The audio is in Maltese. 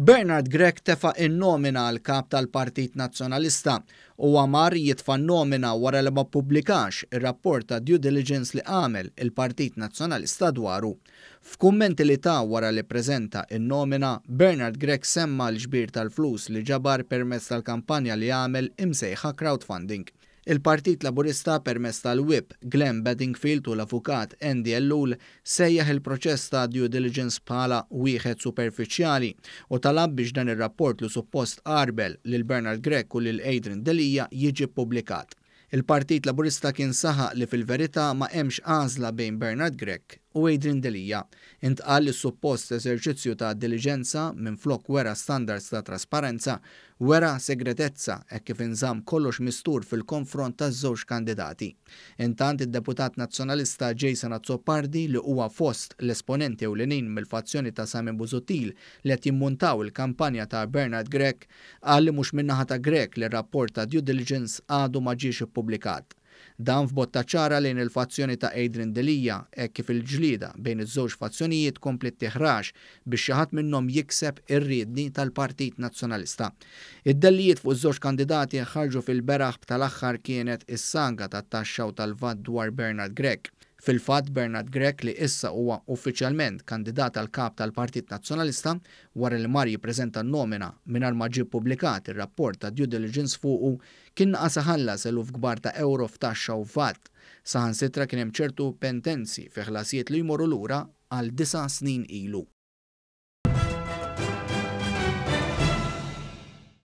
Bernard Grech tefa' n-nomina għal Kap tal-Partit Nazzjonalista. Huwa mar jitfa' n-nomina wara li ma ppubblikax ir-rapport ta' due diligence li għamel il-Partit Nazzjonalista dwaru. F'kummenti li ta wara li ppreżenta n-nomina, Bernard Grech semma l-ġbir tal-flus li ġabar permezz tal-kampanja li għamel imsejħa crowdfunding. Il-Partit Laburista permezz tal-Whip, Glenn Bedingfield u l-Avukat Andy Ellul sejjaħ il-proċess ta' due diligence bħala wieħed superfiċjali u talab biex dan ir-rapport li suppost għarbel lil Bernard Grech u lil Adrian Delia jiġi ppubblikat. Il-Partit Laburista kien saħaq li fil-verità ma hemmx għażla bejn Bernard Grech u Adrian Delia. Intqal li s-suppost eżerċizzju ta' diliġenza, minflok wera standards ta' trasparenza, Wera segretezza hekk kif inżamm kollox mistur fil-konfront taż-żewġ kandidati. Intant id-Deputat Nazzjonalista Jason Azzopardi li huwa fost l-esponenti ewlenin mill-fazzjoni ta' Simon Busuttil li qed jimmuntaw il-kampanja ta' Bernard Grech qal li mhux min-naħa ta' Grech li r-rapport ta' due diligence għadu ma ġiex ippubblikat. Dan f'botta ċara lejn il-fazzjoni ta' Adrian Delia hekk kif il-ġlieda bejn iż-żewġ fazzjonijiet kompliet tiħrax biex xi ħadd minnhom jikseb ir-riedni tal-Partit Nazzjonalista. Id-dellijiet fuq iż-żewġ kandidati ħarġu fil-beraħ b'tal-aħħar kienet is-saga tat-taxxa u tal-vat dwar Bernard Grech. Fil-fatt Bernard Grech li issa huwa uffiċjalment kandidat għal Kap tal-Partit Nazzjonalista wara li mar jippreżenta n-nomina mingħajr ma ġie ppubblikat ir-rapport ta' due diligence fuqu Kien naqas iħallas eluf kbar ta' ewro f'taxxa u vat. Saħansitra kien hemm ċertu pentenzi fi ħlasijiet li jmorru lura għal disa' snin ilu.